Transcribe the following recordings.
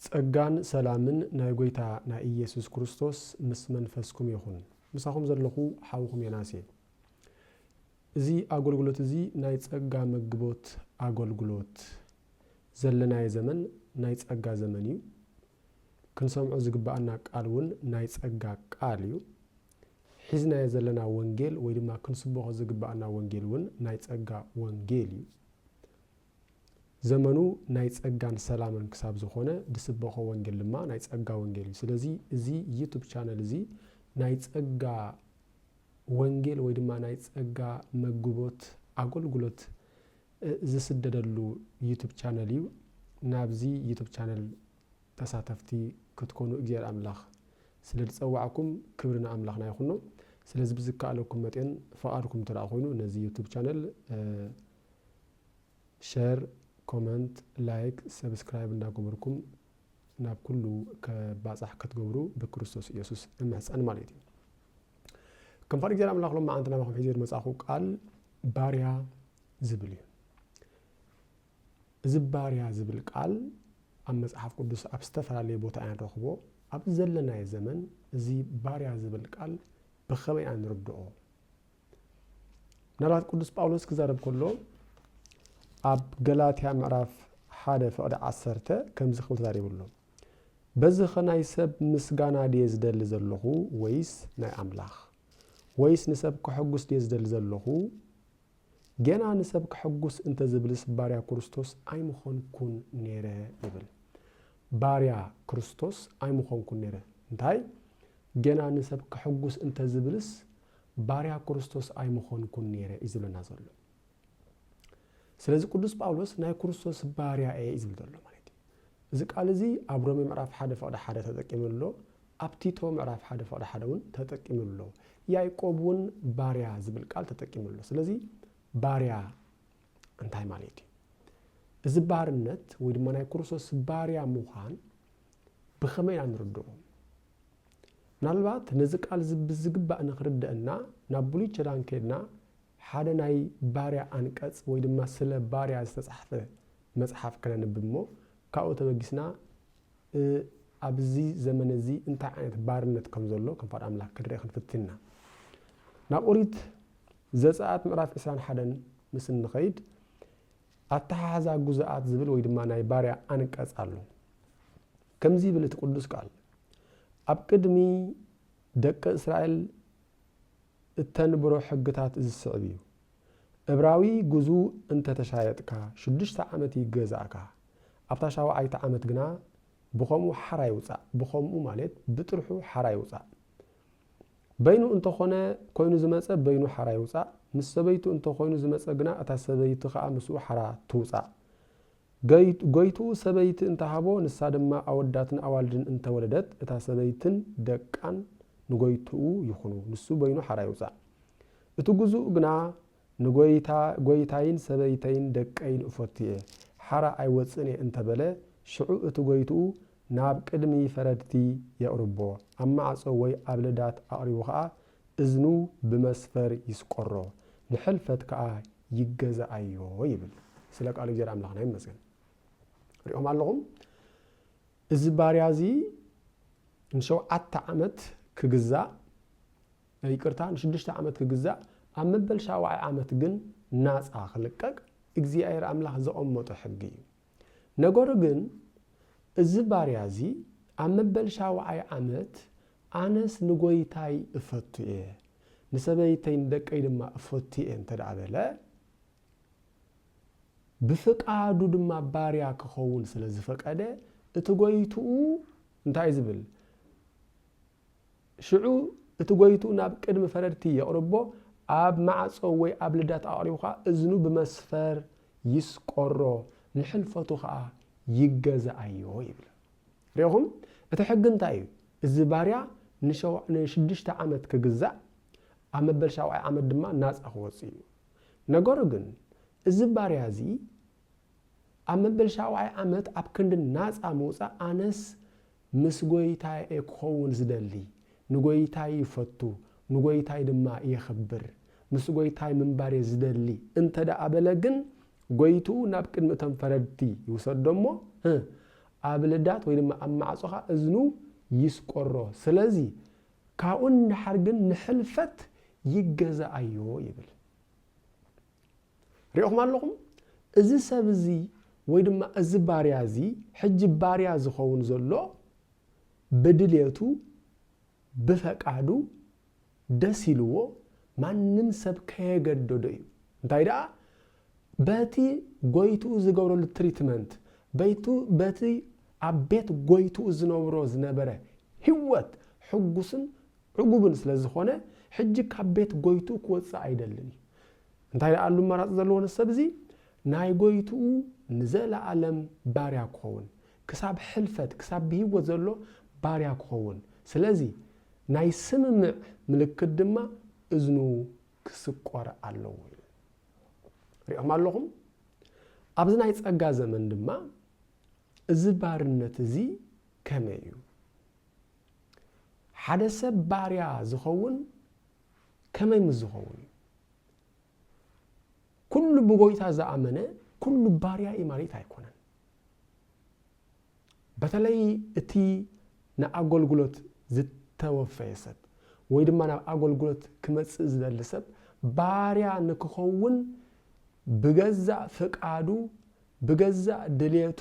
ጸጋን ሰላምን ናይ ጎይታ ናይ ኢየሱስ ክርስቶስ ምስ መንፈስኩም ይኹን። ምሳኹም ዘለኹ ሓውኹም ዮናስ እየ። እዚ ኣጎልጉሎት እዚ ናይ ጸጋ መግቦት ኣጎልጉሎት ዘለናዮ ዘመን ናይ ጸጋ ዘመን እዩ። ክንሰምዖ ዝግብኣና ቃል እውን ናይ ጸጋ ቃል እዩ። ሒዝናዮ ዘለና ወንጌል ወይ ድማ ክንስቦኾ ዝግብኣና ወንጌል እውን ናይ ጸጋ ወንጌል እዩ። ዘመኑ ናይ ጸጋን ሰላምን ክሳብ ዝኾነ ድስበኾ ወንጌል ድማ ናይ ጸጋ ወንጌል እዩ። ስለዚ እዚ ዩቱብ ቻነል እዚ ናይ ጸጋ ወንጌል ወይ ድማ ናይ ጸጋ መግቦት ኣጎልጉሎት ዝስደደሉ ዩቱብ ቻነል እዩ ናብዚ ዩቱብ ቻነል ተሳተፍቲ ክትኮኑ እግዚኣሔር ኣምላኽ ስለ ዝጸዋዕኩም ክብሪ ንኣምላኽና ይኹኖ ስለዚ ብዝከኣለኩም መጤን ፍቓድኩም እንተደኣ ኮይኑ ነዚ ዩቱብ ቻነል ሸር ኮመንት ላይክ ሰብስክራይብ እንዳገበርኩም ናብ ኩሉ ከባጻሕ ክትገብሩ ብክርስቶስ ኢየሱስ እምሕጸን ማለት እዩ ከም ፈቃድ እግዚኣብሔር ኣምላኽ ሎማዓንቲ ናባኹም ሒዜ ዝመጻኹ ቃል ባርያ ዝብል እዩ እዚ ባርያ ዝብል ቃል ኣብ መጽሓፍ ቅዱስ ኣብ ዝተፈላለየ ቦታ ኢና ንረኽቦ ኣብ ዘለናዮ ዘመን እዚ ባርያ ዝብል ቃል ብኸመይ ኢና ንርድኦ ምናልባት ቅዱስ ጳውሎስ ክዛረብ ከሎ ኣብ ገላትያ ምዕራፍ ሓደ ፍቕዲ ዓሰርተ ከምዚ ክብል ተዛሪቡ ኣሎ በዚኸ ናይ ሰብ ምስጋና ድየ ዝደሊ ዘለኹ ወይስ ናይ ኣምላኽ? ወይስ ንሰብ ከሐጕስ ድየ ዝደሊ ዘለኹ? ገና ንሰብ ከሐጕስ እንተ ዝብልስ ባርያ ክርስቶስ ኣይምዀንኩን ነይረ ይብል። ባርያ ክርስቶስ ኣይምዀንኩን ነይረ። እንታይ? ገና ንሰብ ከሐጕስ እንተ ዝብልስ ባርያ ክርስቶስ ኣይምዀንኩን ነይረ እዩ ዝብለና ዘሎ። ስለዚ ቅዱስ ጳውሎስ ናይ ክርስቶስ ባርያ እየ እዩ ዝብል ዘሎ ማለት እዩ። እዚ ቃል እዚ ኣብ ሮሜ ምዕራፍ ሓደ ፍቕዲ ሓደ ተጠቂሙ ኣሎ፣ ኣብ ቲቶ ምዕራፍ ሓደ ፍቕዲ ሓደ እውን ተጠቂሙ ኣሎ፣ ያዕቆብ እውን ባርያ ዝብል ቃል ተጠቂሙ ኣሎ። ስለዚ ባርያ እንታይ ማለት እዩ? እዚ ባርነት ወይ ድማ ናይ ክርስቶስ ባርያ ምዃን ብኸመይ ኢና ንርድኦ? ምናልባት ነዚ ቃል እዚ ብዝግባእ ንኽርደእና ናብ ብሉይ ኪዳን ኬድና ሓደ ናይ ባርያ ኣንቀጽ ወይ ድማ ስለ ባርያ ዝተጻሕፈ መጽሓፍ ከነንብብ እሞ ካብኡ ተበጊስና ኣብዚ ዘመን እዚ እንታይ ዓይነት ባርነት ከም ዘሎ ከም ፋድ ኣምላኽ ክንርኢ ክንፍትን ኢና ናብ ኦሪት ዘጸኣት ምዕራፍ ዕስራን ሓደን ምስ እንኸይድ ኣተሓሕዛ ግዙኣት ዝብል ወይ ድማ ናይ ባርያ ኣንቀጽ ኣሎ። ከምዚ ይብል እቲ ቅዱስ ቃል፣ ኣብ ቅድሚ ደቂ እስራኤል እተንብሮ ሕግታት እዚ ዝስዕብ እዩ፣ እብራዊ ግዙእ እንተ ተሻየጥካ፣ ሽዱሽተ ዓመት ይገዛእካ፣ ኣብታ ሻውዓይቲ ዓመት ግና ብኸምኡ ሓራ ይውጻእ፣ ብኸምኡ ማለት ብጥርሑ ሓራ ይውጻእ። በይኑ እንተ ኾነ ኮይኑ ዝመጸ በይኑ ሓራ ይውጻእ፣ ምስ ሰበይቱ እንተ ኮይኑ ዝመጸ ግና እታ ሰበይቲ ከኣ ምስኡ ሓራ ትውጻእ። ጎይትኡ ሰበይቲ እንተ ሃቦ ንሳ ድማ ኣወዳትን ኣዋልድን እንተ ወለደት እታ ሰበይትን ደቃን ንጎይትኡ ይኹኑ፣ ንሱ በይኑ ሓራ ይውጻእ። እቲ ግዙእ ግና ንጐይታ ጐይታይን ሰበይተይን ደቀይን እፈቱ እየ፣ ሓራ ኣይወጽእን እየ እንተ በለ፣ ሽዑ እቲ ጐይትኡ ናብ ቅድሚ ፈረድቲ የቕርቦ፣ ኣብ ማዕጾ ወይ ኣብ ለዳት ኣቕሪቡ ኸኣ እዝኑ ብመስፈር ይስቈሮ፣ ንሕልፈት ከኣ ይገዝኣዮ ይብል። ስለ ቃሉ እግዚኣብሔር ኣምላኽና ይመስገን። ርኢኹም ኣለኹም? እዚ ባርያ እዚ ንሸውዓተ ዓመት ክግዛእ ይቅርታ ንሽዱሽተ ዓመት ክግዛእ ኣብ መበል ሻውዓይ ዓመት ግን ናጻ ክልቀቅ እግዚኣብሔር ኣምላክ ዘቀመጦ ሕጊ እዩ ነገሩ ግን እዚ ባርያ እዚ ኣብ መበል ሻውዓይ ዓመት ኣነስ ንጎይታይ እፈቱ እየ ንሰበይተይ ንደቀይ ድማ እፈቱ እየ እንተ በለ ብፍቃዱ ድማ ባርያ ክኸውን ስለ ዝፈቀደ እቲ ጎይትኡ እንታይ ዝብል ሽዑ እቲ ጎይትኡ ናብ ቅድሚ ፈረድቲ የቕርቦ፣ ኣብ ማዕጾ ወይ ኣብ ልዳት ኣቕሪቡ ከኣ እዝኑ ብመስፈር ይስቈሮ፣ ንሕልፈቱ ከኣ ይገዛኣዮ ይብል። ርኢኹም እቲ ሕጊ እንታይ እዩ? እዚ ባርያ ንሽዱሽተ ዓመት ክግዛእ፣ ኣብ መበል ሻውዓይ ዓመት ድማ ናጻ ክወጽእ እዩ። ነገሩ ግን እዚ ባርያ እዚ፣ ኣብ መበል ሻውዓይ ዓመት ኣብ ክንዲ ናጻ ምውጻእ ኣነስ ምስ ጎይታየ'የ ክኸውን ዝደሊ፣ ንጎይታይ ይፈቱ ንጎይታይ ድማ የኽብር፣ ምስ ጎይታይ ምንባር'የ ዝደሊ እንተ ደኣ በለ ግን ጎይትኡ ናብ ቅድሚ እቶም ፈረድቲ ይውሰዶ'ሞ ኣብ ልዳት ወይ ድማ ኣብ ማዕጾኻ እዝኑ ይስቆሮ፣ ስለዚ ካብኡ ንደሓር ግን ንሕልፈት ይገዛኣዮ ይብል። ሪእኹም ኣለኹም? እዚ ሰብ እዚ ወይ ድማ እዚ ባርያ እዚ ሕጂ ባርያ ዝኸውን ዘሎ ብድሌቱ ብፈቃዱ ደስ ኢልዎ ማንም ሰብ ከየገደዶ እዩ እንታይ ደኣ በቲ ጎይትኡ ዝገብረሉ ትሪትመንት በይቱ በቲ ኣብ ቤት ጎይትኡ ዝነብሮ ዝነበረ ህይወት ሕጉስን ዕጉብን ስለ ዝኾነ ሕጂ ካብ ቤት ጎይትኡ ክወጽእ ኣይደልን እዩ። እንታይ ደኣሉ ኣማራጺ ዘለዎ ነዚ ሰብ እዚ? ናይ ጎይትኡ ንዘለኣለም ባርያ ክኸውን፣ ክሳብ ሕልፈት፣ ክሳብ ብህይወት ዘሎ ባርያ ክኸውን። ስለዚ ናይ ስምምዕ ምልክት ድማ እዝኑ ክስቆር ኣለዎ ኢሉ። ርኢኹም ኣለኹም? ኣብዚ ናይ ጸጋ ዘመን ድማ እዚ ባርነት እዚ ከመይ እዩ? ሓደ ሰብ ባርያ ዝኸውን ከመይ ምስ ዝኸውን እዩ? ኩሉ ብጎይታ ዝኣመነ ኩሉ ባርያ እዩ ማለት ኣይኮነን። በተለይ እቲ ንኣገልግሎት ዝተወፈየ ሰብ ወይ ድማ ናብ ኣገልግሎት ክመፅእ ዝደሊ ሰብ ባርያ ንክኸውን ብገዛእ ፍቃዱ ብገዛእ ድሌቱ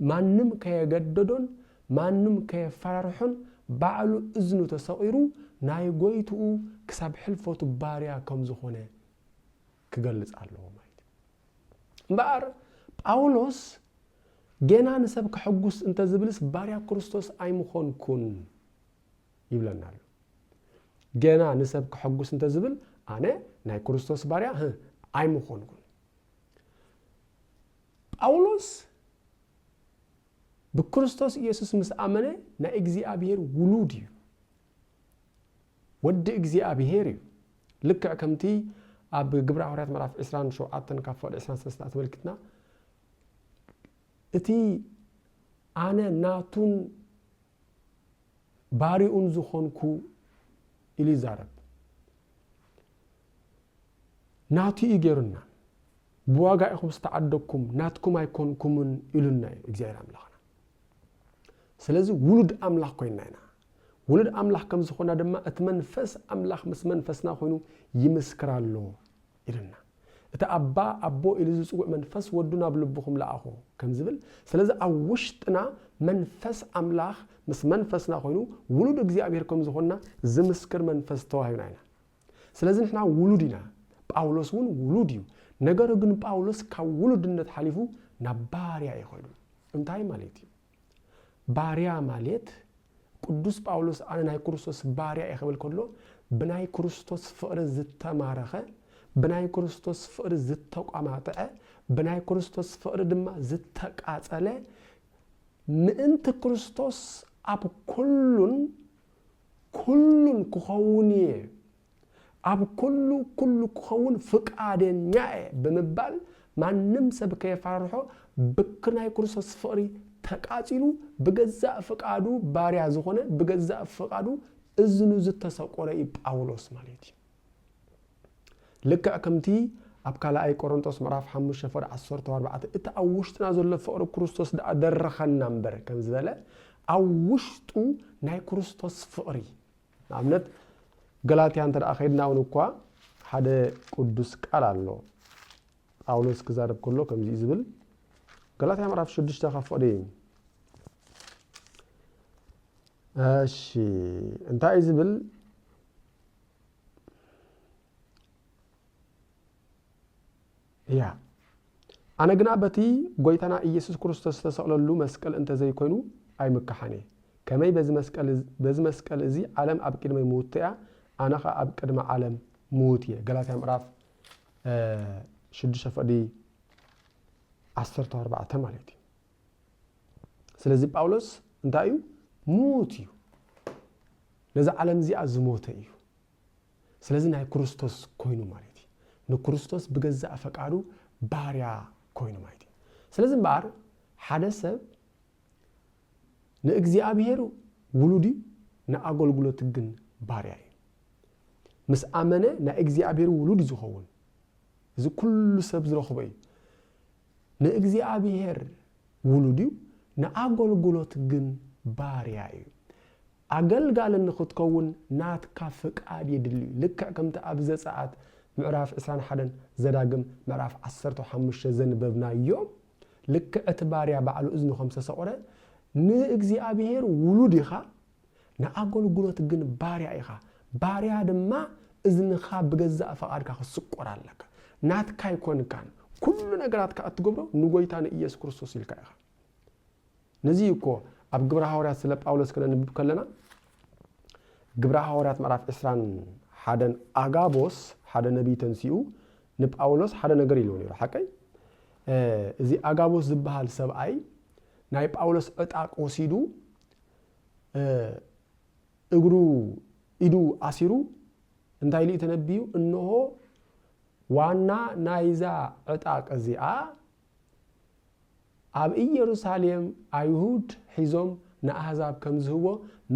ማንም ከየገደዶን ማንም ከየፈራርሖን ባዕሉ እዝኑ ተሰቒሩ ናይ ጎይትኡ ክሳብ ሕልፈቱ ባርያ ከም ዝኾነ ክገልጽ ኣለዎ ማለት እዩ። እምበኣር ጳውሎስ ጌና ንሰብ ከሕጉስ እንተ ዝብልስ ባርያ ክርስቶስ ኣይምኾንኩን ይብለና ኣሎ። ጌና ንሰብ ከሕጉስ እንተ ዝብል ኣነ ናይ ክርስቶስ ባርያ ኣይምኾንኩን። ጳውሎስ ብክርስቶስ ኢየሱስ ምስ ኣመነ ናይ እግዚኣብሔር ውሉድ እዩ፣ ወዲ እግዚኣብሔር እዩ። ልክዕ ከምቲ ኣብ ግብረ ሃዋርያት ምዕራፍ ዕስራን ሸውዓተን ካብ ፍቕዲ ዕስራን ሰለስተን ኣተመልኪትና እቲ ኣነ ናቱን ባሪኡን ዝኾንኩ ኢሉ ይዛረብ። ናቱ እዩ ገይሩና ብዋጋ ኢኹም ዝተዓደግኩም ናትኩም ኣይኮንኩምን ኢሉና እዩ እግዚኣብሔር ኣምላኽና ስለዚ ውሉድ ኣምላኽ ኮይና ኢና ውሉድ ኣምላኽ ከም ዝኾና ድማ እቲ መንፈስ ኣምላኽ ምስ መንፈስና ኮይኑ ይምስክር ኣሎ ኢሉና። እቲ ኣባ፣ ኣቦ ኢሉ ዝጽውዕ መንፈስ ወዱ ናብ ልብኹም ለኣኾ ከም ዝብል፣ ስለዚ ኣብ ውሽጥና መንፈስ ኣምላኽ ምስ መንፈስና ኮይኑ ውሉድ እግዚኣብሔር ከም ዝኾንና ዝምስክር መንፈስ ተዋሂብና ኢና። ስለዚ ንሕና ውሉድ ኢና። ጳውሎስ እውን ውሉድ እዩ። ነገሩ ግን ጳውሎስ ካብ ውሉድነት ሓሊፉ ናብ ባርያ እዩ ከይዱ። እንታይ ማለት እዩ? ባርያ ማልት ቅዱስ ጳውሎስ ኣነ ናይ ክርስቶስ ባርያ እየ ክብል ከሎ ብናይ ክርስቶስ ፍቕሪ ዝተማረኸ ብናይ ክርስቶስ ፍቕሪ ዝተቋማጥዐ ብናይ ክርስቶስ ፍቕሪ ድማ ዝተቃጸለ ምእንቲ ክርስቶስ ኣብ ኩሉን ኩሉን ክኸውን እየ ኣብ ኩሉ ኩሉ ክኸውን ፍቃደኛ እየ ብምባል ማንም ሰብ ከየፈራርሖ ብክ ናይ ክርስቶስ ፍቕሪ ተቃጺሉ ብገዛእ ፍቃዱ ባርያ ዝኾነ ብገዛእ ፍቃዱ እዝኑ ዝተሰቆረ እዩ ጳውሎስ ማለት እዩ። ልክዕ ከምቲ ኣብ ካልኣይ ቆሮንጦስ ምዕራፍ ሓሙሽተ ፍቕዲ ዓሰርተ ኣርባዕተ እቲ ኣብ ውሽጥና ዘሎ ፍቕሪ ክርስቶስ ደኣ ደረኸና እምበር ከም ዝበለ ኣብ ውሽጡ ናይ ክርስቶስ ፍቕሪ ንኣብነት ገላትያ እንተ ከይድና ውን እኳ ሓደ ቅዱስ ቃል ኣሎ ጳውሎስ ክዛረብ ከሎ ከምዚ እዩ ዝብል ገላትያ ምዕራፍ ሽዱሽተ ካብ ፍቕዲ እሺ እንታይ እዩ ዝብል እያ። ኣነ ግና በቲ ጐይታና ኢየሱስ ክርስቶስ ዝተሰቕለሉ መስቀል እንተ ዘይኮይኑ ኣይምከሓን እየ። ከመይ በዚ መስቀል በዚ መስቀል እዚ ዓለም ኣብ ቅድመይ ምውትቶ እያ፣ ኣነ ኸኣ ኣብ ቅድሚ ዓለም ምዉት እየ። ገላትያ ምዕራፍ ሽዱሽተ ፈቕዲ ዓሰርተ ኣርባዕተ ማለት እዩ። ስለዚ ጳውሎስ እንታይ እዩ? ምዉት እዩ። ነዚ ዓለም እዚኣ ዝሞተ እዩ። ስለዚ ናይ ክርስቶስ ኮይኑ ማለት እዩ። ንክርስቶስ ብገዛእ ፈቃዱ ባርያ ኮይኑ ማለት እዩ። ስለዚ እምበኣር ሓደ ሰብ ንእግዚኣብሔር ውሉድ እዩ፣ ንኣገልግሎት ግን ባርያ እዩ። ምስ ኣመነ ናይ እግዚኣብሔር ውሉድ እዩ ዝኸውን። እዚ ኩሉ ሰብ ዝረኽቦ እዩ። ንእግዚኣብሔር ውሉድ እዩ፣ ንኣገልግሎት ግን ባርያ እዩ። ኣገልጋሊ ንኽትከውን ናትካ ፍቃድ የድሊ እዩ፣ ልክዕ ከምቲ ኣብ ዘጸኣት ምዕራፍ ዕስራን ሓደን ዘዳግም ምዕራፍ ዓሰርተው ሓሙሽተ ዘንበብናዮ፣ ልክዕ እቲ ባርያ ባዕሉ እዝኑ ከም ዝተሰቝረ፣ ንእግዚኣብሄር ውሉድ ኢኻ፣ ንኣገልግሎት ግን ባርያ ኢኻ፣ ባርያ ድማ እዝንኻ ብገዛእ ፍቓድካ ክትስቈር ኣለካ፣ ናትካ ኣይኮንካን፣ ኩሉ ነገራትካ እትገብሮ ንጐይታ ንኢየሱስ ክርስቶስ ኢልካ ኢኻ። ነዚ እዩ እኮ ኣብ ግብረ ሃዋርያት ስለ ጳውሎስ ክነንብብ ከለና ግብረ ሃዋርያት ምዕራፍ ዕስራን ሓደን ኣጋቦስ ሓደ ነቢይ ተንሲኡ ንጳውሎስ ሓደ ነገር ኢልዎ ነይሩ ሓቀይ እዚ ኣጋቦስ ዝበሃል ሰብኣይ ናይ ጳውሎስ ዕጣቅ ወሲዱ እግሩ ኢዱ ኣሲሩ እንታይ ኢሉ ተነብዩ እንሆ ዋና ናይዛ ዕጣቅ እዚኣ ኣብ ኢየሩሳሌም ኣይሁድ ሒዞም ንኣሕዛብ ከም ዝህቦ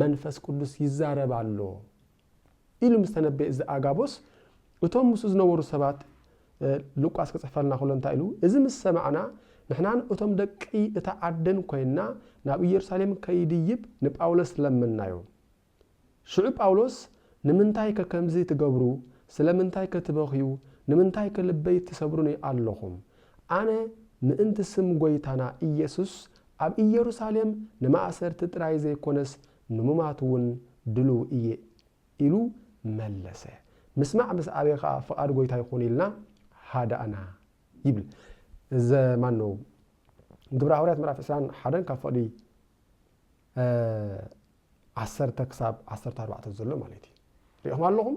መንፈስ ቅዱስ ይዛረብ ኣሎ ኢሉ ምስ ተነበየ እዚ ኣጋቦስ እቶም ምስኡ ዝነበሩ ሰባት ሉቃስ ክጽሕፈልና ከሎ እንታይ ኢሉ እዚ ምስ ሰማዕና ንሕናን እቶም ደቂ እታ ዓድን ኮይንና ናብ ኢየሩሳሌም ከይድይብ ንጳውሎስ ለመንናዮ። ሽዑ ጳውሎስ ንምንታይከ ከምዚ ትገብሩ፣ ስለምንታይከ ትበኽዩ፣ ንምንታይከ ልበይ ትሰብሩኒ ኣሎኹም፣ ኣነ ምእንቲ ስም ጐይታና ኢየሱስ ኣብ ኢየሩሳሌም ንማእሰርቲ ጥራይ ዘይኰነስ ንሙማትውን ድሉው እየ ኢሉ መለሰ። ምስማዕ ምስ ዓበየ ኸኣ ፍቓድ ጐይታ ይኹን ኢልና ሃዳእና ይብል ዘ ማነው ግብረ ሃዋርያት ምዕራፍ ዕስራን ሓደን ካብ ፍቕዲ ዓሰርተ ክሳብ ዓሰርተ ኣርባዕተ ዘሎ ማለት እዩ ሪኢኹም ኣለኹም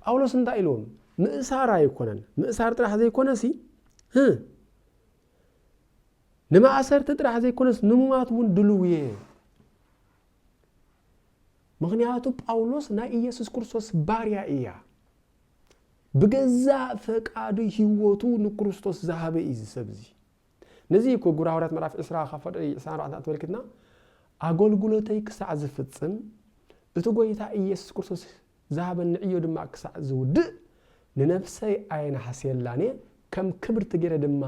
ጳውሎስ እንታይ ኢልዎም ምእሳር ኣይኮነን ምእሳር ጥራሕ ዘይኮነ ሲ ንማእሰርቲ ጥራሕ ዘይኮነስ ንሙማት እውን ድልው እየ ምክንያቱ ጳውሎስ ናይ ኢየሱስ ክርስቶስ ባርያ እያ ብገዛእ ፈቃዱ ህይወቱ ንክርስቶስ ዝሃበ እዩ ዝሰብ እዚ ነዚ እዩ እኮ ግብረ ሃዋርያት ምዕራፍ ዕስራ ካብ ፍቕዲ ዕስራን ኣርባዕተን ኣተመልኪትና ኣገልግሎተይ ክሳዕ ዝፍጽም እቲ ጐይታ ኢየሱስ ክርስቶስ ዝሃበኒ ዕዮ ድማ ክሳዕ ዝውድእ ንነፍሰይ ኣየነሃስየላን እየ፣ ከም ክብርቲ ገይረ ድማ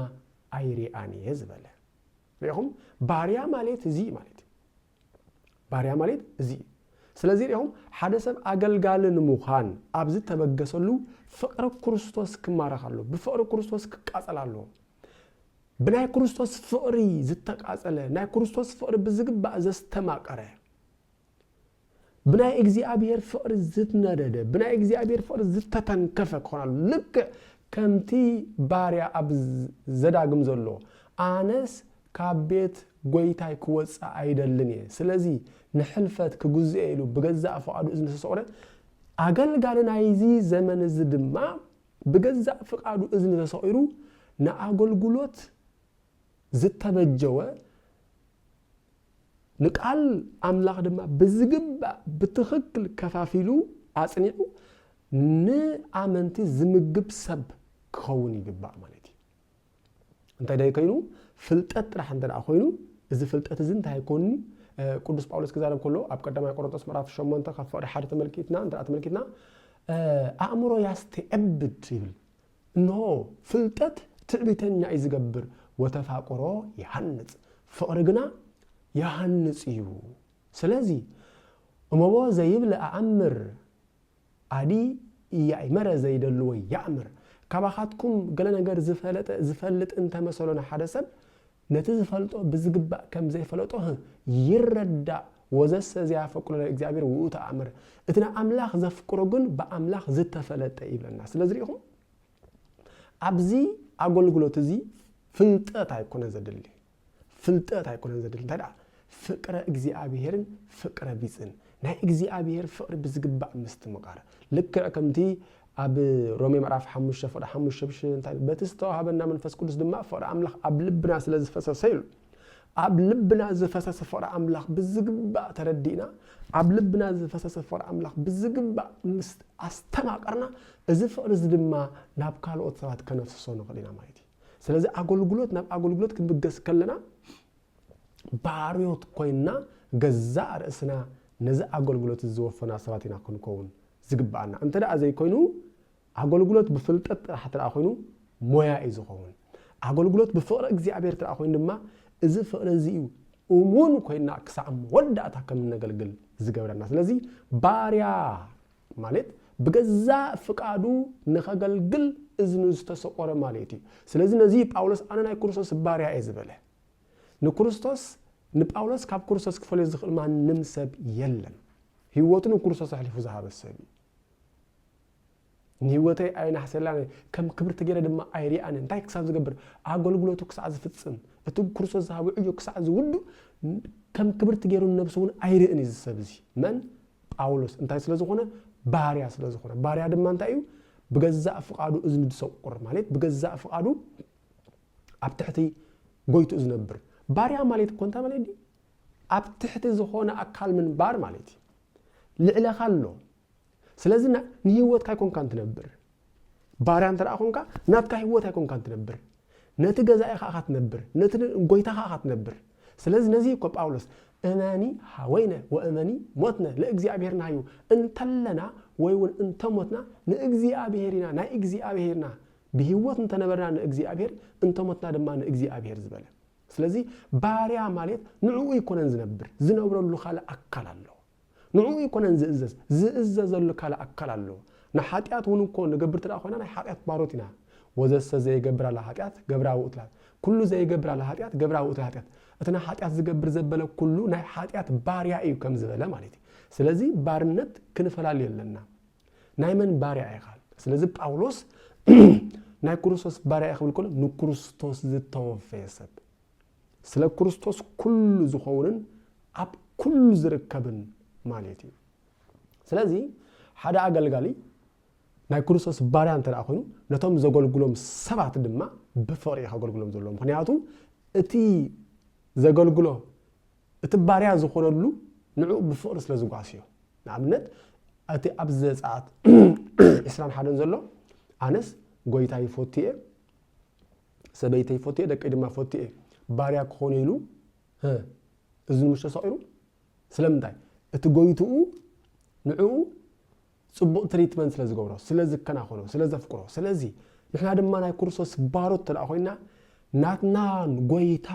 ኣይሪኣን እየ ዝበለ። ርኢኹም? ባርያ ማሌት እዚ እዩ ማለት እዩ። ባርያ ማሌት እዚ እዩ። ስለዚ ርኢኹም ሓደ ሰብ ኣገልጋሊ ንምዃን ኣብ ዝተበገሰሉ ፍቕሪ ክርስቶስ ክማረኽ ኣለዎ። ብፍቕሪ ክርስቶስ ክቃጸል ኣለዎ። ብናይ ክርስቶስ ፍቕሪ ዝተቃጸለ ናይ ክርስቶስ ፍቕሪ ብዝግባእ ዘስተማቀረ ብናይ እግዚኣብሔር ፍቕሪ ዝነደደ ብናይ እግዚኣብሔር ፍቕሪ ዝተተንከፈ ክኾን ኣሎ ልክዕ ከምቲ ባርያ ኣብ ዘዳግም ዘሎ ኣነስ ካብ ቤት ጐይታይ ክወጽእ ኣይደልን እየ፣ ስለዚ ንሕልፈት ክግዝኦ ኢሉ ብገዛእ ፍቓዱ እዝኒ ዘሰቑረ፣ ኣገልጋሊ ናይዚ ዘመን እዚ ድማ ብገዛእ ፍቓዱ እዝኒ ተሰቑሩ ንኣገልግሎት ዝተበጀወ፣ ንቃል ኣምላኽ ድማ ብዝግባእ ብትኽክል ከፋፊሉ ኣጽኒዑ ንኣመንቲ ዝምግብ ሰብ ክኸውን ይግባእ ማለት እዩ። እንታይ ደይ ኮይኑ ፍልጠት ጥራሕ እንተ ኮይኑ እዚ ፍልጠት እዚ እንታይ ኣይኮንኒ ቅዱስ ጳውሎስ ክዛረብ ከሎ ኣብ ቀዳማይ ቆሮንቶስ ምዕራፍ 8 ካብ ፍቕዲ ሓደ ተመልኪትና እንተ ተመልኪትና ኣእምሮ ያስተዕብድ ይብል እንሆ ፍልጠት ትዕቢተኛ እዩ ዝገብር ወተፋቆሮ ይሃንፅ ፍቕሪ ግና ይሃንፅ እዩ ስለዚ እመቦ ዘይብለ ኣኣምር ኣዲ ያኢመረ ዘይደልዎ ያእምር። ካባኻትኩም ገለ ነገር ዝፈለጠ ዝፈልጥ እንተ መሰሎ ንሓደ ሰብ ነቲ ዝፈልጦ ብዝግባእ ከም ዘይፈለጦ ህህ ይረዳእ ወዘሰ ዘያፈቅሮ ለእግዚኣብሔር ውእቱ ኣእምር እቲ ንኣምላኽ ዘፍቅሮ ግን ብኣምላኽ ዝተፈለጠ ይብለና ስለዚ ርኢኹም ኣብዚ ኣገልግሎት እዚ ፍልጠት ኣይኮነ ዘድሊ ፍልጠት ኣይኮነን ዘድሊ እንታይ ደኣ ፍቅረ እግዚኣብሔርን ፍቅረ ቢጽን ናይ እግዚኣብሔር ፍቅሪ ብዝግባእ ምስትምቓር ልክዕ ከምቲ ኣብ ሮሜ ምዕራፍ ሓሙሽተ ፍቅሪ ሓሙሽተ ብሽ እንታይ በቲ ዝተዋህበና መንፈስ ቅዱስ ድማ ፍቅሪ ኣምላኽ ኣብ ልብና ስለ ዝፈሰሰ ኢሉ ኣብ ልብና ዝፈሰሰ ፍቕሪ ኣምላኽ ብዝግባእ ተረዲእና ኣብ ልብና ዝፈሰሰ ፍቕሪ ኣምላኽ ብዝግባእ ምስ ኣስተማቐርና እዚ ፍቕሪ እዚ ድማ ናብ ካልኦት ሰባት ከነፍስሶ ንኽእል ኢና ማለት እዩ ስለዚ ኣገልግሎት ናብ ኣገልግሎት ክንብገስ ከለና ባርዮት ኮይና ገዛእ ርእስና ነዚ ኣገልግሎት እዚ ዝወፈና ሰባት ኢና ክንከውን ዝግብኣና እንተ ደኣ ዘይኮይኑ ኣገልግሎት ብፍልጠት ጥራሕ እተ ኮይኑ ሞያ እዩ ዝኸውን ኣገልግሎት ብፍቕሪ እግዚኣብሔር እተ ኮይኑ ድማ እዚ ፍቕሪ እዚ እዩ እሙን ኮይና ክሳዕ መወዳእታ ከም እነገልግል ዝገብረና ስለዚ ባርያ ማለት ብገዛእ ፍቃዱ ንኸገልግል እዝኑ ዝተሰቆረ ማለት እዩ። ስለዚ ነዚ እዩ ጳውሎስ ኣነ ናይ ክርስቶስ ባርያ እየ ዝበለ። ንክርስቶስ ንጳውሎስ ካብ ክርስቶስ ክፈልዮ ዝኽእል ማንም ሰብ የለን። ህይወቱ ንክርስቶስ ኣሕሊፉ ዝሃበ ሰብ እዩ። ንህይወተይ ኣየናሕሰላን ከም ክብርቲ ገይረ ድማ ኣይርኣን እንታይ ክሳብ ዝገብር ኣገልግሎቱ ክሳዕ ዝፍፅም እቲ ክርስቶስ ዝሃበ ዕዮ ክሳዕ ዝውዱ ከም ክብርቲ ገይሩ ነብሱ እውን ኣይርእን እዩ ዝሰብ እዚ መን ጳውሎስ እንታይ ስለ ዝኾነ? ባርያ ስለ ዝኾነ። ባርያ ድማ እንታይ እዩ? ብገዛእ ፍቓዱ እዝኒ ድሰቁር ማለት ብገዛእ ፍቓዱ ኣብ ትሕቲ ጎይትኡ ዝነብር ባርያ ማለት እኮ እንታይ ማለት እዩ? ኣብ ትሕቲ ዝኾነ ኣካል ምንባር ማለት እዩ። ልዕለኻ ኣሎ። ስለዚ ንህይወትካ ኣይኮንካን ትነብር። ባርያ እንተ ደኣ ዀንካ፣ ናትካ ህይወት ኣይኰንካን እትነብር፣ ነቲ ገዛኢኻ ኢኻ እትነብር፣ ነቲ ንጐይታኻ ኢኻ እትነብር። ስለዚ ነዚ እዩ እኮ ጳውሎስ እመኒ ኀወይነ ወእመኒ ሞትነ ለእግዚኣብሔር ናህዩ፣ እንተለና ወይውን እንተ ሞትና ንእግዚኣብሔር ኢና፣ ናይ እግዚኣብሔር ኢና፣ ብህይወት እንተ ነበርና ንእግዚኣብሔር፣ እንተ ሞትና ድማ ንእግዚኣብሔር ዝበለ። ስለዚ ባርያ ማለት ንዕኡ ኣይኰነን ዝነብር፣ ዝነብረሉ ካልእ ኣካል ኣለዎ። ንዕኡ ኣይኮነን ዝእዘዝ፣ ዝእዘዘሉ ካልእ ኣካል ኣሎ። ንሓጢኣት እውን እኮ ንገብር እንተ ኾይና ናይ ሓጢኣት ባሮት ኢና። ወዘሰ ዘይገብር ኣለ ሓጢኣት ገብራ ውእቱ ለኃጢኣት፣ ኩሉ ዘይገብር ኣለ ሓጢኣት ገብራ ውእቱ ለኃጢኣት፣ እቲ ንሓጢኣት ዝገብር ዘበለ ኩሉ ናይ ሓጢኣት ባርያ እዩ ከም ዝበለ ማለት እዩ። ስለዚ ባርነት ክንፈላሊ ኣለና። ናይ መን ባርያ ኢኻ? ስለዚ ጳውሎስ ናይ ክርስቶስ ባርያ እየ ክብል ከሎ ንክርስቶስ ዝተወፈየ ሰብ ስለ ክርስቶስ ኩሉ ዝኸውንን ኣብ ኩሉ ዝርከብን ማለት እዩ። ስለዚ ሓደ ኣገልጋሊ ናይ ክርስቶስ ባርያ እንተ ደኣ ኮይኑ ነቶም ዘገልግሎም ሰባት ድማ ብፍቕሪ እዩ ከገልግሎም ዘለዎ ምክንያቱ እቲ ዘገልግሎ እቲ ባርያ ዝኾነሉ ንዕኡ ብፍቕሪ ስለ ዝጓስዮ ንኣብነት እቲ ኣብ ዘፀኣት ዕስራን ሓደን ዘሎ ኣነስ ጎይታ ይፈቱ እየ ሰበይተይ ፎትየ ደቀይ ድማ ፎትየ ባርያ ክኾኖ ኢሉ ህ እዝኑ ምሽ ተሰቒሩ ስለምንታይ እቲ ጎይትኡ ንዕኡ ጽቡቕ ትሪትመንት ስለ ዝገብሮ ስለ ዝከናኸኖ ስለ ዘፍቅሮ ስለዚ ንሕና ድማ ናይ ክርስቶስ ባሮት ተደኣ ኮይና ናትናን ጎይታ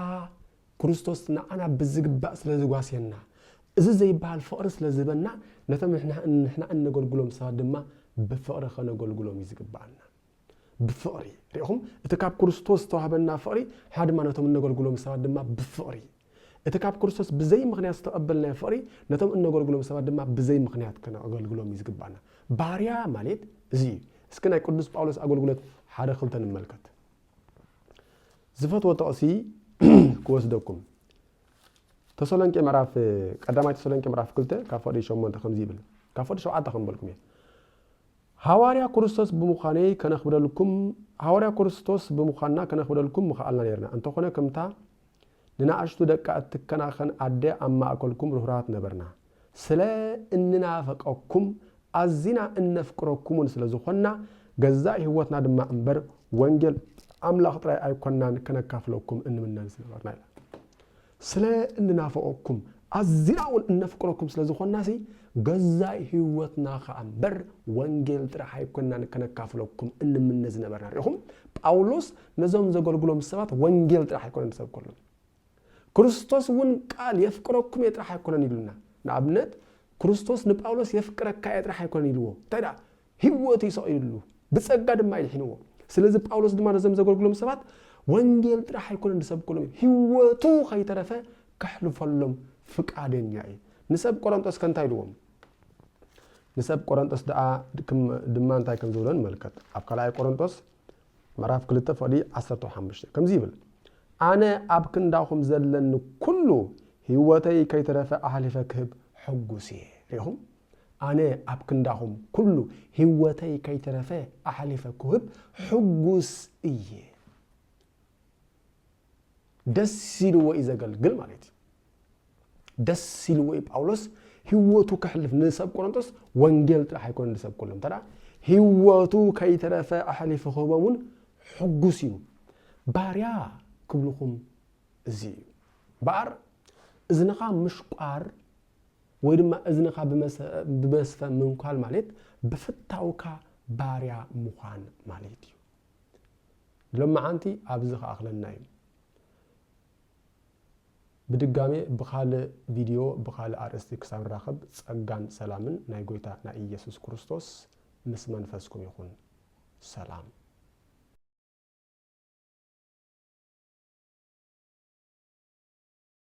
ክርስቶስ ንዓና ብዝግባእ ስለ ዝጓስየና እዚ ዘይበሃል ፍቕሪ ስለ ዝህበና ነቶም ንሕና እነገልግሎም ሰባት ድማ ብፍቕሪ ከነገልግሎም እዩ ዝግባኣና ብፍቕሪ፣ ርኢኹም፣ እቲ ካብ ክርስቶስ ዝተዋህበና ፍቕሪ፣ ንሕና ድማ ነቶም እነገልግሎም ሰባት ድማ ብፍቕሪ። እቲ ካብ ክርስቶስ ብዘይ ምኽንያት ዝተቐበልናዮ ፍቕሪ፣ ነቶም እነገልግሎም ሰባት ድማ ብዘይ ምኽንያት ከነገልግሎም እዩ ዝግብኣና። ባርያ ማልት እዚ እዩ። እስኪ ናይ ቅዱስ ጳውሎስ ኣገልግሎት ሓደ ክልተ ንመልከት። ዝፈትዎ ጥቕሲ ክወስደኩም። ተሰሎንቄ ምዕራፍ ቀዳማይ ተሰሎንቄ ምዕራፍ ክልተ ካብ ፍቕዲ ሸሞንተ ከምዚ ይብል ካብ ፍቕዲ ሸውዓተ ከም በልኩም እየ ሃዋርያ ክርስቶስ ብምዃነይ ከነኽብረልኩም ሃዋርያ ክርስቶስ ብምዃንና ከነኽብረልኩም ምኸኣልና ኔርና። እንተኾነ ከምታ ንናእሽቱ ደቃ እትከናኸን ኣደ ኣብ ማእከልኩም ርህሩሃት ነበርና። ስለ እንናፍቀኩም ኣዚና እነፍቅረኩምውን ስለ ዝኾንና ገዛእ ህይወትና ድማ እምበር ወንጌል ኣምላኽ ጥራይ ኣይኮናን ከነካፍለኩም እንምነን ዝነበርና ኢላ። ስለ እንናፍቐኩም፣ ኣዝና'ውን እነፍቅረኩም ስለ ዝኾንናሲ፣ ገዛኢ ህይወትና ኸኣ እምበር ወንጌል ጥራሕ ኣይኮንናን ከነካፍለኩም እንምነ ዝነበርና። ርኢኹም፣ ጳውሎስ ነዞም ዘገልግሎም ሰባት ወንጌል ጥራሕ ኣይኮነን ዝሰብከሎም። ክርስቶስ'ውን ቃል የፍቅረኩም እየ ጥራሕ ኣይኮነን ኢሉና። ንኣብነት፣ ክርስቶስ ንጳውሎስ የፍቅረካ እየ ጥራሕ ኣይኮነን ኢልዎ። እንታይ ደኣ ህይወቱ እዩ ሰቒሉሉ፣ ብጸጋ ድማ ኣድሒንዎ። ስለዚ ጳውሎስ ድማ ነዞም ዘገልግሎም ሰባት ወንጌል ጥራሕ ኣይኮነን ዝሰብከሎም፣ ህይወቱ ከይተረፈ ከሕልፈሎም ፍቃደኛ እዩ። ንሰብ ቆረንጦስ ከ እንታይ ኢልዎም? ንሰብ ቆረንጦስ ደኣ ድማ እንታይ ከም ዝብሎ ንመልከት። ኣብ ካልኣይ ቆረንጦስ ምዕራፍ ክልተ ፍቕዲ ዓሰርተ ሓሙሽተ ከምዚ ይብል፣ ኣነ ኣብ ክንዳኹም ዘለኒ ኩሉ ህይወተይ ከይተረፈ ኣሕሊፈ ክህብ ሕጉስ እየ። ርኢኹም? ኣነ ኣብ ክንዳኹም ኩሉ ሂወተይ ከይተረፈ ኣሕሊፈ ኩህብ ሕጉስ እየ ደስ ኢልዎ እዩ ዘገልግል ማለት እዩ ደስ ኢልዎ እዩ ጳውሎስ ሂወቱ ከሕልፍ ንሰብ ቆሮንቶስ ወንጌል ጥራሕ ኣይኮነ ንሰብ ኩሎም እንተ ሂወቱ ከይተረፈ ኣሕሊፉ ክህቦም እውን ሕጉስ እዩ ባርያ ክብልኹም እዚ እዩ በኣር እዝንኻ ምሽቋር ወይ ድማ እዝንኻ ብመስፈ ምንኳል ማለት ብፍታውካ ባርያ ምዃን ማለት እዩ ሎመዓንቲ ኣብዚ ክኣኽለና እዩ ብድጋሜ ብኻልእ ቪድዮ ብኻልእ ኣርእስቲ ክሳብ ንራኸብ ጸጋን ሰላምን ናይ ጎይታ ናይ ኢየሱስ ክርስቶስ ምስ መንፈስኩም ይኹን ሰላም